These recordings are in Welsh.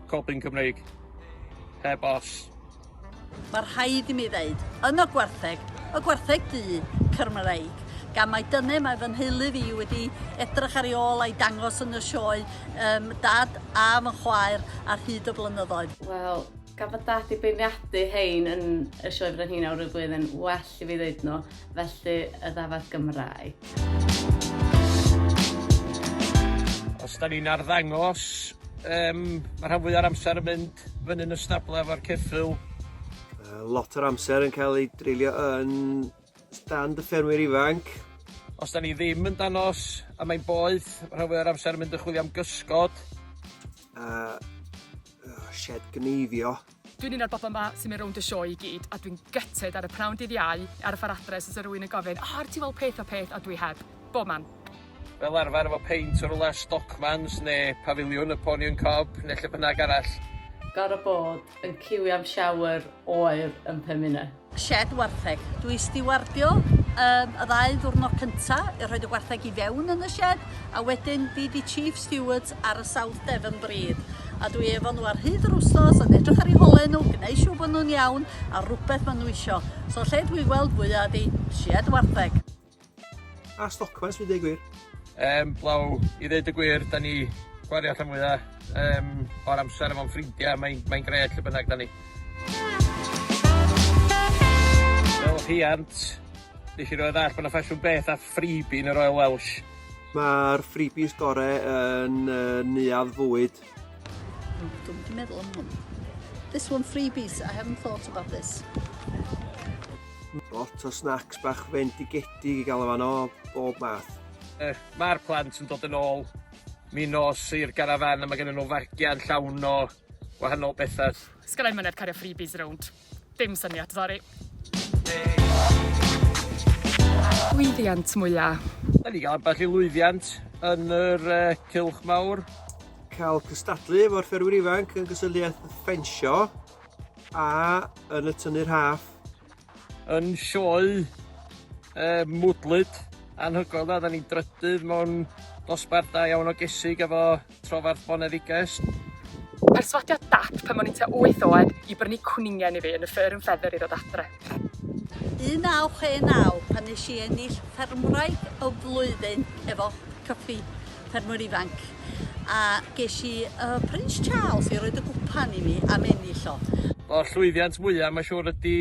Cobbyn Cymreig. Heb os. Mae rhaid i mi ddeud, yn y gwartheg, y gwartheg du, Cymreig, gan mae dyne mae fy nheulu fi wedi edrych ar ei ôl a'i dangos yn y sioe um, dad a fy chwaer ar hyd y blynyddoedd. Wel, Gan fod dad i beirniadu hein yn y Sioe Frenhina o'r flwyddyn yn well i fi ddweud nhw, felly y ddafad Gymraeg. Os da ni'n arddangos, um, mae rhan fwy o'r amser yn mynd fyny'n y stablau efo'r ceffyl. Uh, lot o'r amser yn cael ei dreulio yn stand y ffermwyr ifanc. Os da ni ddim yn danos a mae'n boeth, mae rhan fwy o'r amser yn mynd yn chwilio am gysgod. Uh, Oh, shed gneifio. Dwi'n un o'r bobl yma sy'n mynd rownd y sioe i gyd a dwi'n gytid ar y pnawn dydd iau ar y ffordd adre os oes rhywun yn gofyn o, oh, ar ti weld peth o peth, a dwi heb. Bob man. Fel arfer efo peint o rwle Stockmans neu Pafiliwn y Pony and Cob neu lle bynnag arall. Gorfod bod yn ciwio am shower oer yn pum munud. Shed wartheg. Dw i stiwardio um, y ddau ddwrnod cynta, i rhoi y gwartheg i fewn yn y shed, a wedyn fi di chief stewards ar y South Devon Breed. A dw i efo nhw ar hyd yr wstos yn edrych ar eu hole nhw, gwneud siw bod nhw'n iawn a rhywbeth maen nhw isio. So lle dw i'n gweld fwyaf ydi shed wartheg. A stocfans fi dweud gwir. Um, blaw, i ddeud y gwir, da ni gwario allan mwyaf um, o'r amser efo'n ffrindiau, mae'n mae gred lle bynnag da ni. Fel rhiant, nes i roed all bod yna ffasiwn beth a ffribi yn y Royal Welsh. Mae'r ffribis gorau yn uh, neuadd fwyd Oh, dwi'n wedi meddwl am hwn. This one freebies, I haven't thought about this. Lot o snacks bach fendigedig i gael o fan o bob math. Eh, Mae'r plant yn dod yn ôl mi nos i'r garafan a mae gen nhw fargian llawn o wahanol bethau. Sgynna i myned cario freebies rownd. Dim syniad, sori. Lwyddiant mwya. Da ni gael ambell i lwyddiant yn yr uh, cylch mawr. Cael cystadlu efo'r fferwyr ifanc yn gysylltiaeth ffensio a yn y tynnu'r haff. Yn sioe uh, mwdlyd anhygoel da, da ni'n drydydd mewn dosbarth da iawn o gesig efo Trofarth Boneddiges. Perswadiad Dad pan o'n i'n tua wyth oed i brynu cwningen i fi yn y Fur and Feather i ddod adre. 1969 pan nes i ennill Ffermwraig y Flwyddyn efo Cyffi Ffermwyr Ifanc a ges i y Prince Charles i roed y gwpan i mi am ennill o. O llwyddiant mwya ma siwr ydi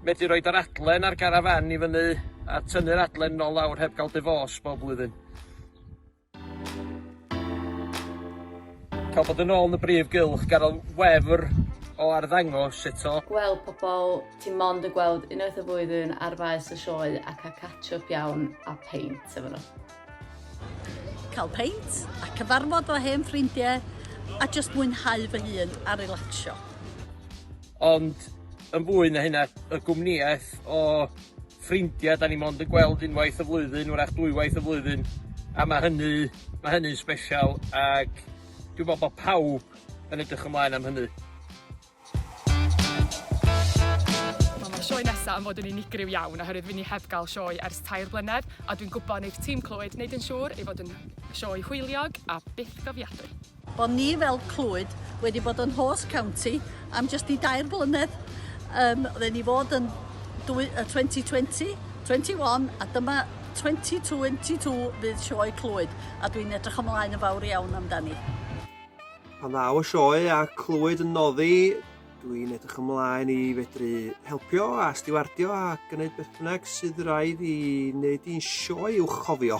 medru roid yr adlen ar garafan i fyny a tynnu'r adlen nol lawr heb gael dyfos bob blwyddyn. Cael bod yn ôl yn y brif gylch gan y wefr o arddangos eto. Wel pobol, ti mond yn gweld unwaith y flwyddyn ar faes y sioe a cael catch up iawn a peint efo nhw. Cael peint a cyfarfod fy hen ffrindiau a jyst mwynhau fy hun a relacsio. Ond yn fwy na hynna, y gwmnïaeth o ffrindia 'dan ni mond yn gweld unwaith y flwyddyn 'w'rach dwywaith y flwyddyn a ma' hynny ma' hynny'n sbesial ag dwi me'wl bo' pawb yn edrych ymlaen am hynny. Wel ma'r sioe nesa yn fod yn unigryw iawn oherwydd fy ni heb ga'l sioe ers tair blynedd a dwi'n gwbo neith tîm Clwyd neud yn siŵr ei fod yn sioe hwyliog a bythgofiadwy. Bod ni fel Clwyd wedi bod yn host county am jyst i dair blynedd. Yym, oedden ni fod yn dwy, uh, 2020, 21 a dyma 2022 fydd sioe Clwyd a dwi'n edrych ymlaen yn fawr iawn amdani. Pan ddaw y sioe a Clwyd yn noddi, dwi'n edrych ymlaen i fedru helpio a stiwardio a gwneud beth bynnag sydd rhaid i wneud i'n sioe i'w chofio.